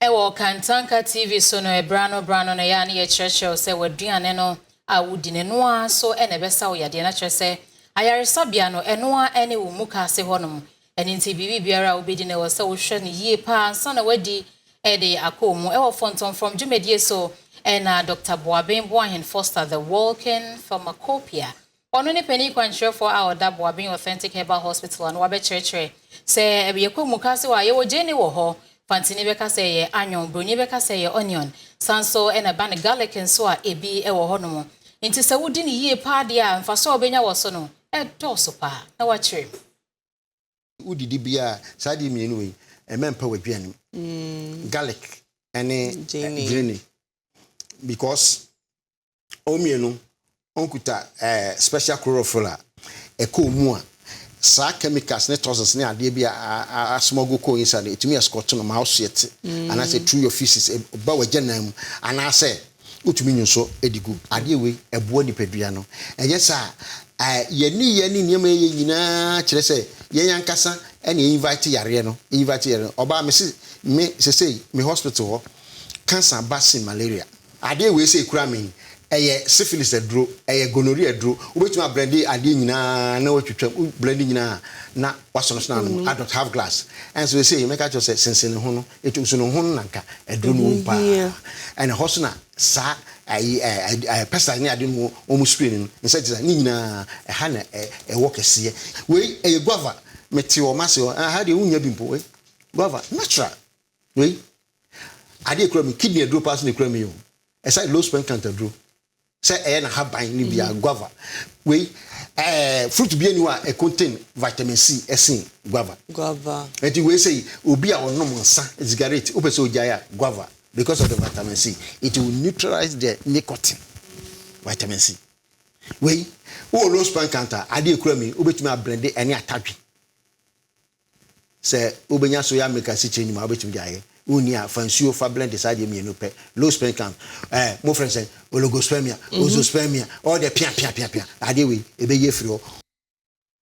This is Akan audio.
Wɔ Kantanka TV so no, bere ano bere ano no, ɛyɛ a na yɛkyerɛkyerɛ wo sɛ w'aduane no a wudi no, ɛno ara nso na ɛbɛsa wo yadeɛ no. Na kyerɛ sɛ, ayaresabea no, ɛno ara ne wo mukaase hɔnom. Ɛno nti, biribiara a wobɛdi no, ɛwɔ sɛ wohwɛ no yie pa ara ansa na woadi de akɔ wo mu. Wɔ Fɔntɔm Fam dwumadie so na Dɔkta Boaben Boahen Foster, The Walking Pharmacopoeia, Ɔno ne panin kwankyerɛfoɔ a ɔda Boabeng Authentic Herbal Hospital ano abɛkyerɛkyerɛ. Sɛ yɛkɔ mu kasewa a, yɛwɔ gyeene wɔ hɔ. Fantini bɛka sɛ ɛyɛ anyon, Buroni bɛka sɛ ɛyɛ onion. Saa nso na ɛba no garlic nso a ebi wɔ hɔnom. Enti sɛ wodi no yie paa deɛ a, mfasoɔ a wobɛnya wɔ so no, ɛdɔɔso paa. Na woakyerɛ mu. Wodidi biara a, saa adeɛ mmienu wei, mma ɛmpa w'aduane mu, garlic ne gyeene because wɔn mmienu kuta ɛɛ special chlorophyll a ɛkɔ wɔn mu a, saa chemicals ne toxins ne adeɛ bi a asmuggle kɔ inside no, ɛtumi escort no ma wo so yɛte. Mm. Anaasɛ through your feces, ɛba w'agya nan mu. Anaasɛ wotumi nyi nso de gu. Adeɛ wei, ɛboa nipadua no. Ɛnyɛ saa a, yɛn nneyɛɛ ne nneɛma yɛyɛ nyinaa kyerɛ sɛ yɛn ankasa na yɛinvite yareɛ no. Yɛinvite yareɛ no. Ɔbaa, mese me sesei me hospital hɔ, cancer ba sen malaria. Adeɛ wei sei kura me yi, ɛyɛ syphilis aduro, ɛyɛ gonorrhea aduro, wobɛtumi ablɛnde adeɛ nyinaa na watwitwam, wo blɛnde nyinaa a na wasonosono ano mu, adɔt half glass. Ɛnso seisei mɛka akyerɛ wo sɛ sensene ho no, ɛtu nso no ho no na nka aduro no wom paa. Ɛna ɛhɔ nso na saa ayi ɛ pesticides ne ade no wɔn spray no, insecticide, ne nyinaa ɛha na ɛwɔ kɛseɛ. Wei ɛyɛ guava, mete hɔ, mase hɔ, ɛha deɛ wonnya bi mpo, wei guava natural. Wei adeɛ ekura mi kidney aduro paa so na ekura mi o ɛsɛ low spent count aduro sɛ ɛyɛ n'ahaban ne bia mhm. guava wei ɛɛ fruit bi aniwa a ɛcontain vitamin c ɛsen guava. guava ɛti wei sɛ obi a ɔnom nsa cigarette o pɛ sɛ ogya yɛ guava because of the vitamin c it will neutralize the nicotine vitamin c wei wɔ low spent count a adeɛ ekura mi o bɛ tumi abrɛnde ɛne atadwe. Sɛ wobɛnya soya milk asikyire nnwuma a, wobɛtumi de ayɛ. Wonni a, fa nsuo fa blende saa deɛ mmienu pɛ. Low sperm count, eh, mofrɛ no sɛn? Oligospermia, ozoospermia, all the pia pia pia pia. Adeɛ wei, ɛbɛyi afiri hɔ.